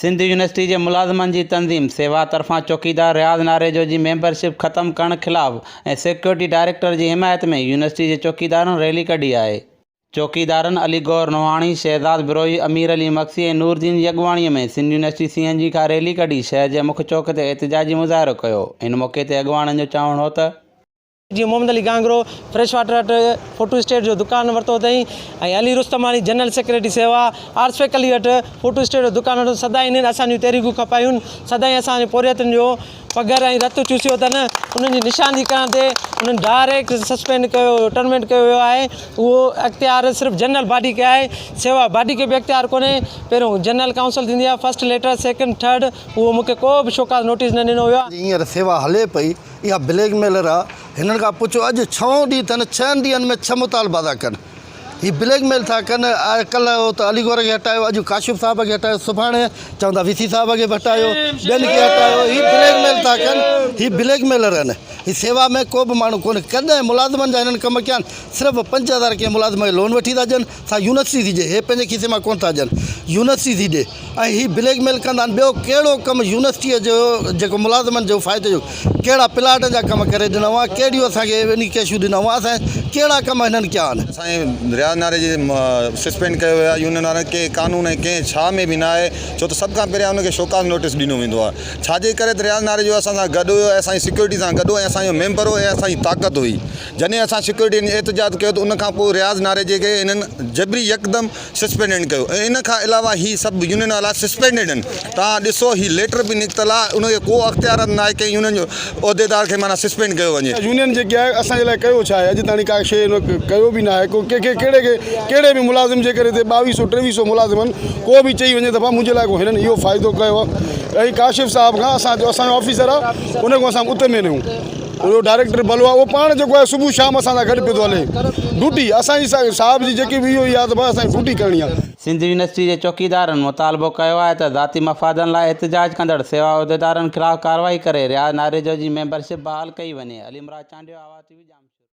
Sindh university جي ملازمن جي تنظيم سيوا طرفان چوڪيدار رياض ناريجو جي ميمبر شپ ختم ڪرڻ خلاف ۽ سيڪيورٽي ڊائريڪٽر جي حمايت ۾ يونيورسٽي جي چوڪيدارن ريلي ڪڍي آهي. چوڪيدارن علي گور نوحاڻي، شهزاد بروهي، امير علي مگسي ۽ نور الدين جي اڳواڻي ۾ Sindh university C N G کان ريلي ڪڍي شهر جي مک چوڪ تي احتجاجي مظاهرو ڪيو. ان موقعي تي اڳواڻن جو چوڻ هو ته. جيئن محمد علي گانگرو فريش واٽر هٽ فوٽو اسٽيٽ جو دڪان ورتو اٿائين ۽ علي رستماڻي جنرل سيڪريٽري سيوا آرسفيڪ علي هٽ فوٽو اسٽيٽ جو دڪان ورتو سدائين انهن اسان جون تحريڪون کپايون سدائين اسان جي پورهيتن جو پگهر ۽ رت چوسيو اٿن انهن جي نشاندهي ڪرڻ تي انهن ڊائريڪٽ سسپينڊ ڪيو ويو ٽرمينٽ ڪيو ويو آهي اهو اختيار صرف جنرل باڊي کي آهي سيوا باڊي کي به اختيار ڪونهي پهريون جنرل ڪائونسل ٿيندي آهي فرسٽ ليٽر سيڪنڊ ٿرڊ اهو مون کي ڪو به شوڪاز نوٽيس نه ڏنو ويو آهي. جيئن هينئر سيوا هلي پئي اها بليڪ ميلر آ هنن کان پڇو اڄ ڇهون ڏينهن ٿن ڇهن ڏينهن ۾ ڇهه مطالبا ٿا ڪن هي بليڪ ميل ٿا ڪن ڪلهه هو ته علي گور کي هٽايو اڄ ڪاشف صاحب کي هٽايو سڀاڻي چوندا وي سي صاحب کي به هٽايو ٻين کي هٽايو هي بليڪ ميل ٿا ڪن هي بليڪ ميلر آهن هي سيوا ۾ ڪو به ماڻهو ڪونهي ڪڏهن ملازمن جا هنن ڪم ڪيا آهن صرف پنج هزار ڪنهن ملازم کي لون وٺي ٿا ڏين ٿا يونس سي ڊي هي پنهنجي کيسي مان ڪونه ٿا ڏين يونس سي ڊي ۽ هي بليڪ ميل ڪندا آهن ٻيو ڪهڙو ڪم يونسٽي جو جيڪو ملازمن جو فائدي جو ڪهڙا پلاٽن جا ڪم ڪري ڏنا هئا ڪهڙيون اسان کي اني ڪيشون ڏنا هئا اسان ڪهڙا ڪم هنن ڪيا آهن. سائين رياض ناري جي سسپينڊ ڪيو ويو آهي يونين وارن ڪنهن قانون ۽ ڪنهن ڇا ۾ به نه آهي ڇو ته سڀ کان پهريان ان کي شوڪاز نوٽيس ڏنو ويندو آهي ڇا جي ڪري ته رياض ناري جو اسان سان گڏ هيو اسان جي سيڪيورٽي سان گڏ هو ۽ اسان جو ميمبر هو ۽ اسان جي طاقت هئي جڏهن اسان سيڪيورٽي ۾ احتجاج ڪيو ته ان کان پوء رياض ناريجي کي هنن جبري يڪدم سسپينڊنڊ ڪيو ۽ ان کان علاوه هي سڀ يونين وارا سسپينڊڊ آهن توهان ڏسو هي ليٽر به نڪتل آهي ان کي ڪو اختيارات ناهي ڪنهن يونين جو عهديدار کي معنيٰ سسپينڊ ڪيو وڃي. اها يونين جيڪي آهي اسان جي لاء ڪيو ڇا آهي اڄ تاڻي ڪا شيء ان ڪيو به ناهي ڪو ڪنهن کي ڪهڙي کي ڪهڙي به ملازم جي ڪري هتي ٻاويهه سئو ٽيويهه سئو ملازم آهن ڪو به چئي وڃي ته ڀا منهنجي لاء ڪو هنن اهو فائدو ڪيو آهي ڪاشف صاحب کان اسان جو اسان جو آفيسر آهي ان کان اسان اتر مينون اهو ڊائريڪٽر بلوا اهو پاڻ جيڪو آهي صبح شام اسان سان گڏ پيو ٿو هلي ڊوٽي اسان جي صاحب جي جيڪي به اهو ئي آهي ته بس اسان کي ڊوٽي ڪرڻي آهي. سنڌ يونيورسٽي جي چوڪيدارن مطالبو ڪيو آهي ته ذاتي مفادن لاء احتجاج ڪندڙ سيوا عهديدارن خلاف ڪارروائي ڪري رياض ناريجو جي ميمبرشپ بحال ڪئي وڃي عليمراد چانڊيو آواز ٽي وي ڄامشوري.